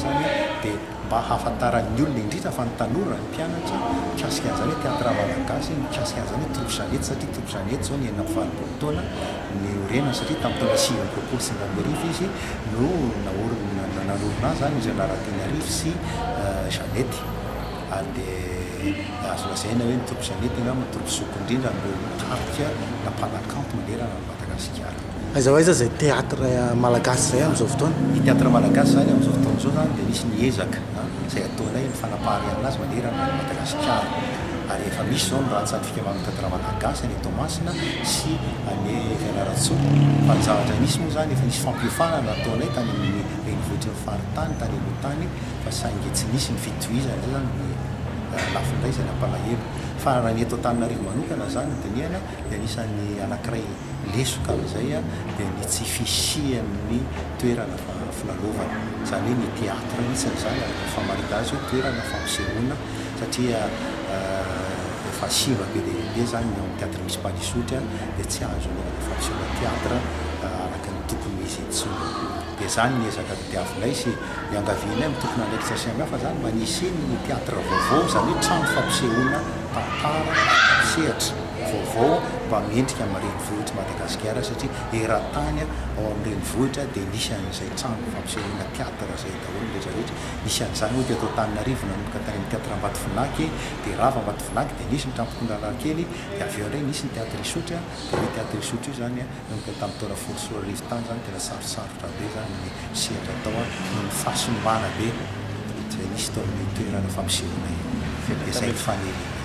izany dia mba ahafantaran'ny olona indrindra fa ny tanora, ny mpianatra, mikasika an'izany hoe teatra malagasy, mikasika an'izany hoe troupe Jeannette satria troupe Jeannette izao ny enina amby valopolo taona niorenany satria tamin'ny taona sivy amby roapolo sy sivy amby arivo izy no naorina, nanorina azy izany Eugène Rarateniarivo sy Jeannette ary dia azo lazaina hoe ny troupe Jeannette angamba troupe zoky indrindra amin'ireo mpitarika na mpanakanto manerana an'i Madagasikara. Aiza ho aiza izay teatra malagasy izay amin'izao fotoana? Ny teatra malagasy izany amin'izao fotoana izao izany dia misy ny ezaka izay ataonay amin'ny fanapariahana azy manerana an'i Madagasikara. Ary efa misy izao ny rantsan'ny fikamahan'ny teatra malagasy any Toamasina sy any Fianarantsoa. Fa ny zavatra misy moa izany, efa nisy fampiofanana nataonay tany amin'ny renivohitry ny faritany, tany aloha tany, fa saingy tsy nisy ny fitohizana. Izay izany no lafiny iray izay nampalahelo. Fa raha ny eto Antananarivo manokana izany no dinihana, dia anisan'ny anankiray lesoka amin'izay dia ny tsy fisian'ny toerana filalaovana, izany hoe ny théâtre mihitsy ny zany ary rehefa mahita azy hoe toerana fampisehoana satria efa simba be dia be zany ny ao amin'ny théâtre municipal Isotry dia tsy azo anaovana fampisehoana théâtre araka ny tokony ho izy intsony. Dia zany ny ezaka todiavinay sy iangavianay amin'ny tompon'andraikitra samihafa zany mba ny hisian'ny theatre vaovao zany hoe trano fampisehoana tantara sy sehatra vaovao mba mendrika amin'ny renivohitr'i Madagasikara satria eran-tany ao amin'ny renivohitra dia nisy an'izay trano fampisehoana theatre izay daholo ny rehetra rehetra nisy an'izany ohatra eto Antananarivo nanomboka tany amin'ny theatre Ambatovinaky dia rava Ambatovinaky dia nisy ny camp Koundalarkely dia avy eo indray nisy ny theatre Isotry dia io theatre Isotry io zany Donc tamin'ny taona folo sy roa arivo tany zany tena sarosarotra be zany ny sehatra atao an, noho ny fahasimbana be izay nisy tao amin'io toerana fampisehoana io, fampiasain'ny faniriana io.